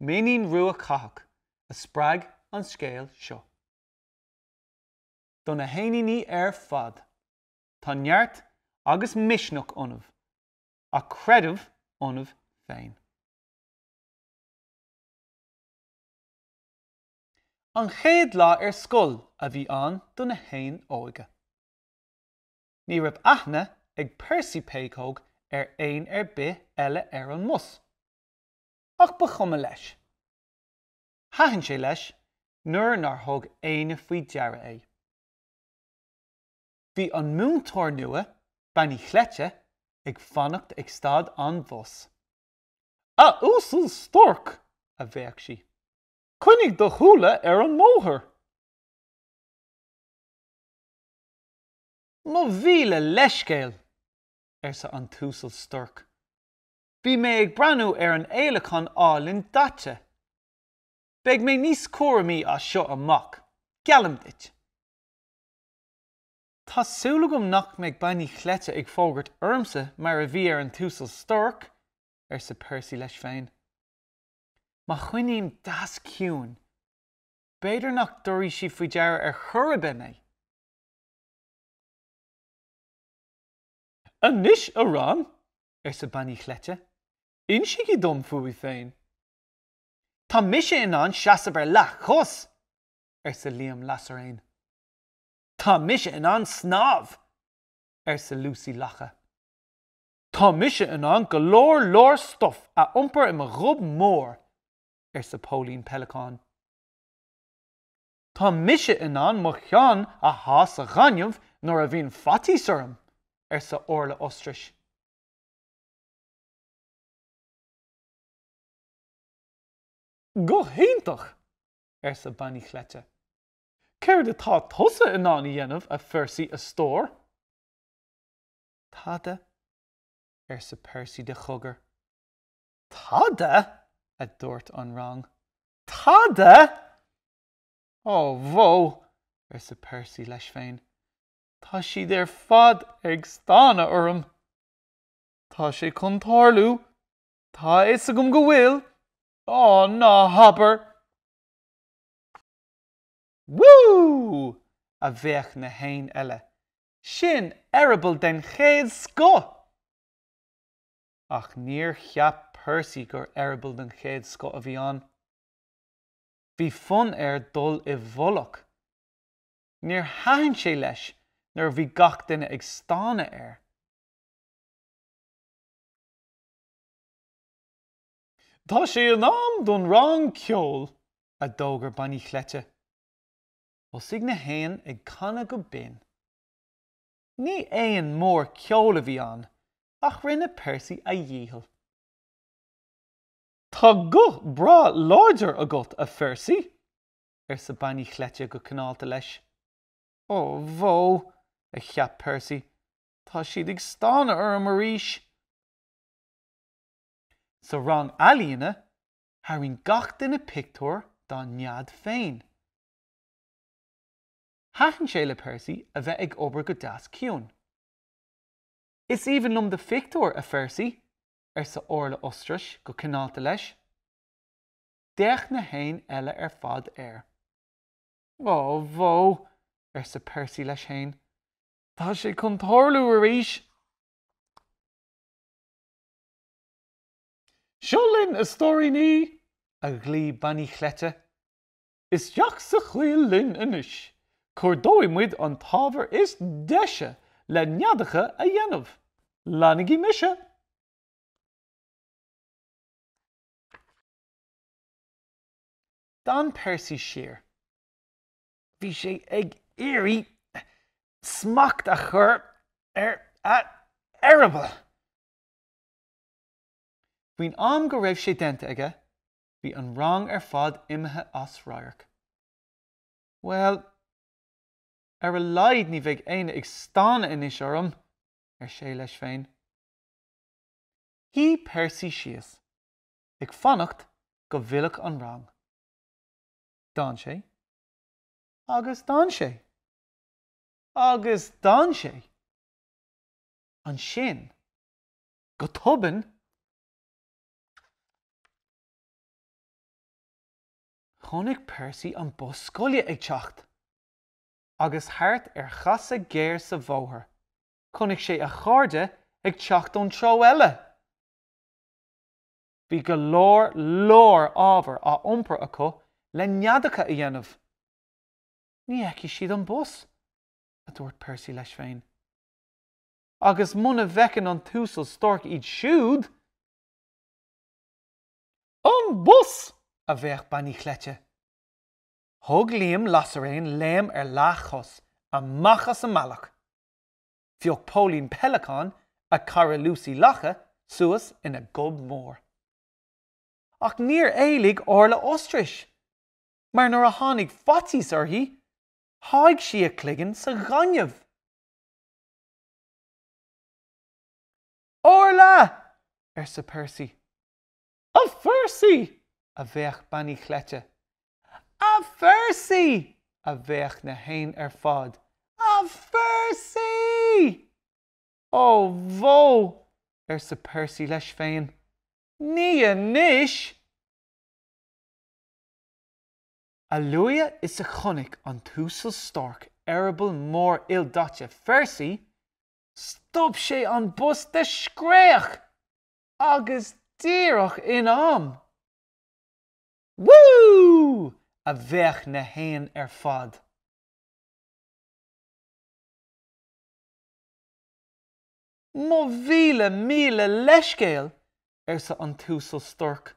Mainnín Rua Catach a spreag an scéal seo. Do na héiníní ar fad, tá neart agus misneach ionaibh, ach creideamh ionaibh féin. An chéad lá ar scoil a bhí ann do na héin óga. Ní raibh aithne ag Percy Péacóg ar éan ar bith eile ar an mbus. Ach ba chuma leis. Thaitin sé leis nuair nár thug éinne faoi deara é. Bhí an múinteoir nua, Bean Uí Chleite, ag fanacht ag stad an bhus. A Uasail Storc! a bhéic sí. Coinnigh do shúile ar an mbóthar! Mo mhíle leithscéal! arsa an tUasal Storc. Bhí mé ag breathnú ar an fhéileacán álainn daite. Beidh mé níos cúramaí as seo amach, geallaim duit. Tá súil agam nach mbeidh Bean Uí Chleite ag fógairt ormsa mar a bhí ar an Uasal Storc, arsa Percy leis féin. Má choinním deas ciúin, b'fhéidir nach dtabharfaidh sí faoi deara ar chor ar bith mé. Anois, a rang, arsa Bean Uí Chleite. Insígí dom fúibh féin. Tá mise in ann seasamh ar leathchos! arsa Liam Lasairéan. Tá mise in ann snámh! arsa Lúsaí Lacha. Tá mise in ann go leor leor stuif a iompar i mo ghob mór! arsa Póilín Peileacán. Tá mise in ann mo cheann a shá sa ghaineamh nuair a bhíonn faitíos orm, arsa Orla Ostrais. Go hiontach! arsa Bean Uí Chleite. Céard atá tusa in ann a dhéanamh, a Phercy, a stór? Tada, arsa Percy de chogar. Tada! a dúirt an rang. Tada? Ó, bhó, arsa Percy leis féin, tá siad ar fad ag stánadh orm. Tá sé chun tarlú, tá a fhios agam go bhfuil, á, ná habair! Woo! a bhéic na héin eile, sin eireaball den chéad scoth! ach níor cheap Percy gur eireaball den chéad scoth a bhí ann. Bhí fonn air dul i bhfolach. Níor thaitin sé leis nuair a bhí gach duine ag stánadh air. Tá sé in am don rang ceoil, a d'fhógair Bean Uí Chleite. Thosaigh na héin ag canadh go binn. Ní éan mór ceoil é a bhí ann, ach rinne Percy a dhícheall. Tá guth breá láidir agat, a Phercy, arsa Bean Uí Chleite go cineálta leis. Ó bhó, a cheap Percy, tá siad ag stánadh orm arís! Sa rang ealaíne, tharraing gach duine pictiúr dá nead féin. Thaitin sé le Percy a bheith ag obair go deas ciúin. 'Is aoibhinn liom do phictiúr, a Phercy, arsa Orla Ostrais go cineálta leis. D'fhéach na héin eile ar fad air. 'Ó, bhó, arsa Percy leis féin, 'tá sé chun tarlú arís! Seo linn, a stóiríní! a ghlaoigh Bean Uí Chleite. Isteach sa choill linn anois. Cuardóidh muid an t-ábhar is deise le neadacha a dhéanamh. Leanaigí mise! D'fhan Percy siar. Bhí sé ag iarraidh smacht a chur ar a eireaball. Faoin am go raibh sé déanta aige, bhí an rang ar fad imithe as radharc. Bhuel, ar a laghad ní bheidh éinne ag stánadh anois orm! ar sé leis féin. Shuigh Percy síos, ag fanacht go bhfillfeadh an rang. D'fhan sé, agus d'fhan sé. Agus d'fhan sé. Ansin, go tobann! Chonaic Percy an bus scoile ag teacht. Agus thart ar chasadh géar sa bhóthar, chonaic sé a chairde ag teacht ón treo eile. Bhí go leor, leor ábhar á iompar acu le neadacha a dhéanamh. Ní fheicfidh siad an bus, a dúirt Percy leis féin. agus muna bhfeiceann an tUasal Storck iad siúd, An bus! a bhéic Beainín Chleite. Thug Liam Lasairéan léim ar leathchos amach as an mbealach. Phioc Póilín Peidhleacáin a cara Lúsaí Lacha suas ina gob mór. Ach níor éalaigh Orla Ostrais, mar nuair a tháinig faitíos uirthi, sháigh sí a cloigeann sa ghaineamh. Orla! arsa Percy. A Phercy! a bhéic Beainín Chleite. A Phercy! a bhéic na héin ar fad. A Phercy! Ó bhó! arsa Percy leis féin. Ní anois! A luaithe is a chonaic an tUasal Storck eireaball mór ildaite Phercy, stop sé an bus de scréach! Agus díreach in am! Woo! a bhéic na héin ar fad. Mo mhíle míle leithscéal! arsa an tUasal Storck.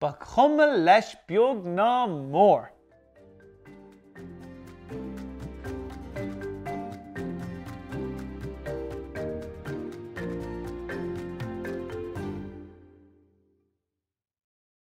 Ba chuma leis beag ná mór.